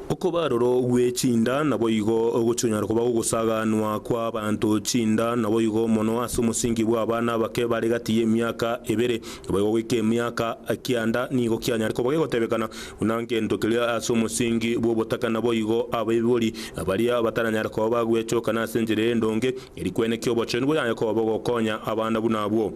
Okoba aroro gwe chinda naboigo ogochikonyara koba gogosaganwa kwa abanto chinda naboigo mono ase omosingi bwa abana abake bare gati y'emiaka ebere naboigo goika emiaka kianda nigo kianyare koba gegotebekana buna ngento keria ase omosingi bw'obotaka naboigo abaibori baria bataranyare koba bagwechokana ase enchera endonge eri kweneki obochenu boyanye koba bogokonya abana buna abwo.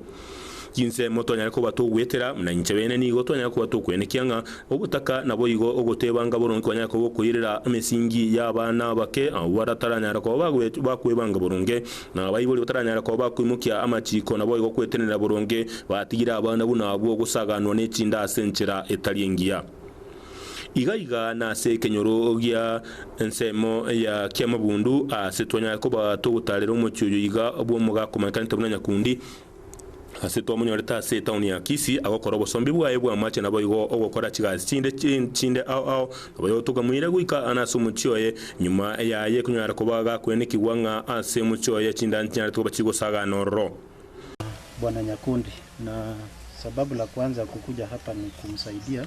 Chinsemo twanyare koba togwetera, buna inche bene nigo twanyare koba tokwenekia ng'a obotaka naboigo ogotebanga boronge kwanyare koba okoirera emesingi y'abana abake abwo bataranyara koba bagoe bakwebanga boronge, na abaibori bataranyara koba bakoimokia amachiiko naboigo gwetenenera boronge batigire abana buna abwo gosaganwa n'echinde ase enchera etari engiya. Iga iga nase ekenyoro gia ensemo ya kiamabundu aase twanyare koba togotaarera omochie oyo iga bw'omogakomanekanete buna nyakundi, Aase twamonyorete ase etaoni ya Kisii agokora obosombi bwaye bw'amache naboigo ogokora chigasi chinde chinde ao ao, naboigo tokamoira goika aane ase omochie oye. Nyuma yaye konyara koba gakwenekigwa ng'a ase omochie oye chinda nchinyanete koba chigosagana ororo. Bwana nyakundi, na sababu la kwanza kukuja hapa ni kumsaidia.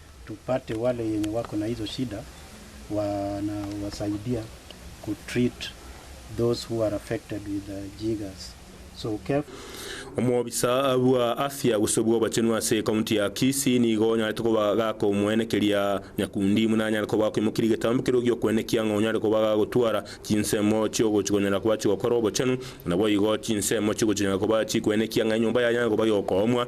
Tupate wale yenye wako na hizo shida wana wasaidia ku treat those who are affected with the jiggers so careful. Omobisa bwa afya gose bw'obachenu ase ekaunti ya Kisii nigo onyarete koba gakomoenekeria nyakundi buna anyare koba akoimokiria egetambo keria gi'okwenekia ng'a onyare koba gagotwara chinsemo chi'ogochikonyara koba chigokora obochenu. Naboigo, chinsemo chigochinyara koba chikwenekia ng'a enyomba yaye enyare koba yokoomwa,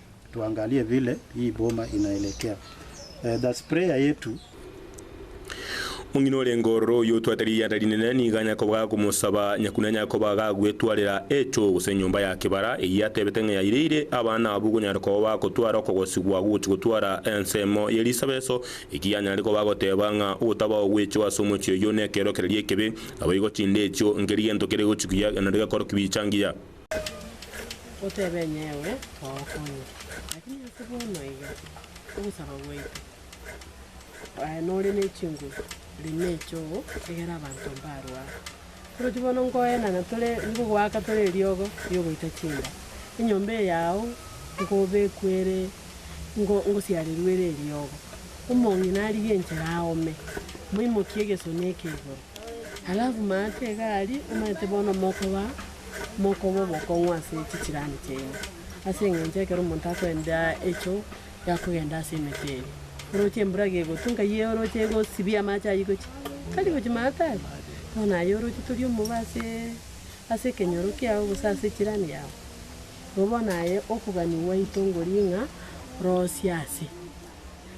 Tuangalie vile hii boma inaelekea. The Sprayer yetu. Omong'ina ore ngororo oyio otwate rianda rinene nigo anyakoba gagomosaba Nyakuna Nyakoba gagwetwarera echo gose enyomba ya kebara eyio atebete ng'a yaireire abana abwo konyara koba bagotwara okogosigwa gogochi gotwara ensemo ye risabeso eki yanyare koba agoteba ng'a ogotaba ogwecho ase omochie oyio nekeorokereria ekebe naboigo chinde echio nkeri gento kere gochi kuya nario gekorokigwa chingiya. Otebe inye ewe togokonya, lakini ase bono iga ogosaba gwaito, aye nore ne chinguru reme choo egere abanto mbarwa. Oroche bono nkoenana tore nkogoaka tore eriogo riogoita chinda, enyomba eye yao nkobekwe ere ngo ngosiarerwe ere eriogo. Omong'ina arige enchera aome, moimokie egesoni eke igoro. Alafu maate iga aria, omanyete bono mokoba, mokoba obokong'u ase chicirani chiaino, ase eng'encho ekero omonto akoenda echoo, yakogenda ase emete eria, oroche embura iga egotwa, nkayia oroche egosibia amache ayio gochia, tari gochia maate aria, bono aye oroche tori omobe asee, ase ekenyoro kiago gose ase echirani yago. Igo bono aye okogania gwaito ngoria ng'a rosie ase.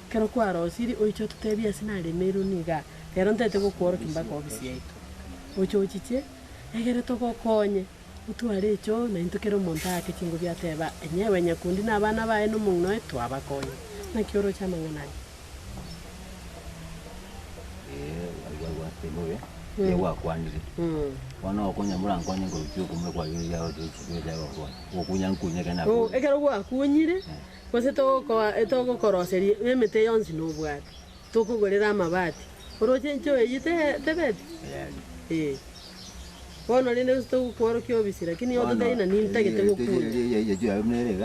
Ekero kwarosirie, oiche ototeebie ase naremeirwe niga, rero ntaete gokworokia mpaka ofisi yaito. Oche ochiche, egere togokonye, otware echo, na intwe kera omonto aake chinguru ateba, Onye ewe nyakundi na abana baye na omong'ina oye twabakonye, naki oroche amang'ana aya? Ye gwakwanire. Bono okonya morankonye nkorusia okomura kwagera eria agotebirie chinguru chiaye gokonya. Gokunya nkunye ekero nakonya. Ekero gwakunyire. Gose togokoa etogokoroseria b'emete yonsi nobwate, tokogorera amabati, oroche enchoo eyio tebebe? Ee. Bono rende gose togokworokia obisi, lakini nigo totaina nintagete gokuunywa.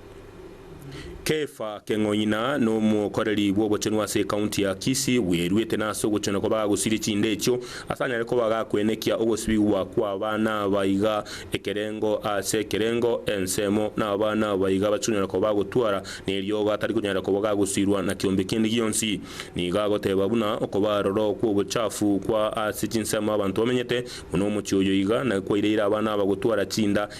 Kefa Keng'oina nomokoreri bw'obochenu ase ekaunti ya Kisii bweruete nase ogochena kwa bagosiria chinde echio ase anyare koba gakwenekia ogosibigwa kw'abana abaiga ekerengo ase ekerengo ensemo nabana abaiga bachikonyara koba bagotwara neriogo atari konyara koba gagosirwa na kiombe kende gionsi nigo agoteba buna okoba aroro kw'obochafu kwa ase chinsemo abanto bamenyete buna omochie oyo iga na kwaireire abana aba gotwara chinda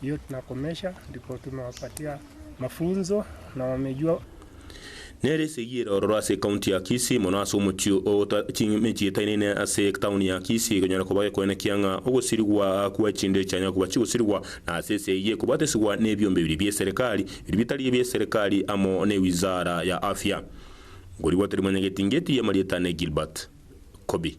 Hiyo tunakomesha ndipo tumewapatia mafunzo na wamejua. Nere esegi ere ororo ase ekaunti ya Kisii, mono ase omochie o Ota. Chimechie etainaine ase etauni ya Kisii ekonyara koba gekoenekia ng'a ogosirigwa kwa chinde echianyare koba chigosirigwa na ase ense eyio ekobatesigwa nebiombe biria bi'eserikari, biria bitari ebi'eserikari amo ne Wizara ya Afya. Nkorigwa tari mwanyagetingeti y'amarieta ne Gilbert Kobi.